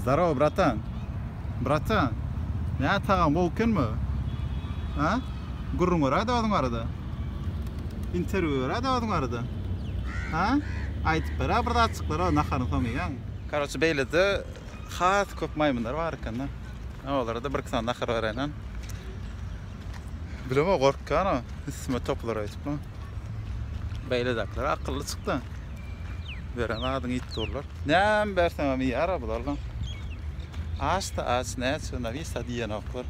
Zdarow bratan. Bratan. Nä tagam gowy ekenmi? Hä? Gürrüň beräýdä ozuň barada. Interwýu beräýdä ozuň barada. Hä? Aýdyp berä bir zatjyklary naharyň soňy iýäň. Karoçe beýlede has köp maýmynlar bar ekende. Olara-da birki sany nahar beräýnen. Bilemok gorkýan o üstüme toplar öýdüp. Beýledakiler akylly çykdy. Beren adyňy iýip durlar. Näme berseňem iýýär-a bular lan. Aç-da aç, näçe Nawisa diýenoklar.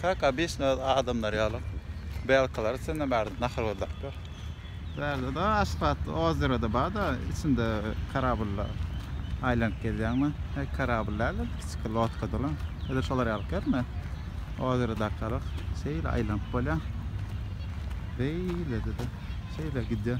Kak obesno öz adamlary ýaly. Belkilary içinde bärde nahar gözläp ýör. Bärde-de aşpat ozero-da bar-da, içinde karablda aýlanyp gezýäňmi? He, karabl däl-de, kiçi lodkada lan. Edil şolar ýaly görme. Ozero dakgaryk, şeýle aýlanyp bolýar. Beýlede-de, şeýle gidýär.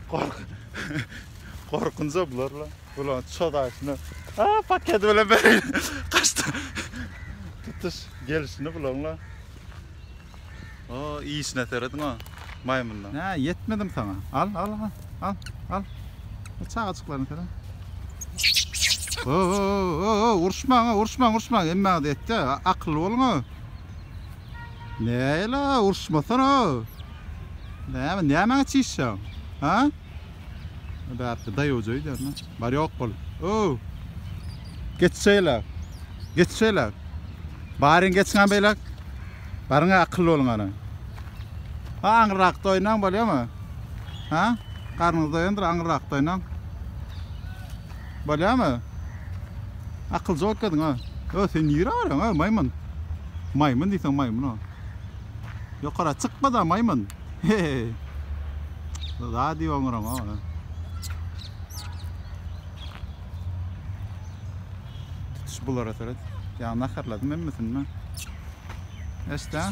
Gork. Gorkunja bular la. Bular çodaşyna. A paket bilen beri kaçtı. Tutuş gelişini bulan la. O işine seredin o maymundan. Ne yetmedim sana. Al al al. Al al. Bu çağaçıklarını seren. Oo, oo, oo, uruşmaň, uruşmaň, uruşmaň. Emme adı etti. Akıllı olun o. Näla urşmasana. Näme nämäňe çişýaň? Ha? Bärde daýawja öýdýärmi? Bar ýok bol. O! Geç şeýle. Geç şeýle. Baryň geçiňä beýle. Baryňa akylly boluň ana. Ha aňyrrak doýnaň bolýamy? Ha? Garnyňyz doýandyr aňyrrak doýnaň. Bolýamy? Akylja otgadyň a. Ýo sen nirä barýaň a maýmyn. Maýmyn diýseň maýmyn o. Ýokara çykma da maýmyn. Zady oňuraň o. Tutuş bulara töret. Ýa naharladym hemmesini men. Eşdä.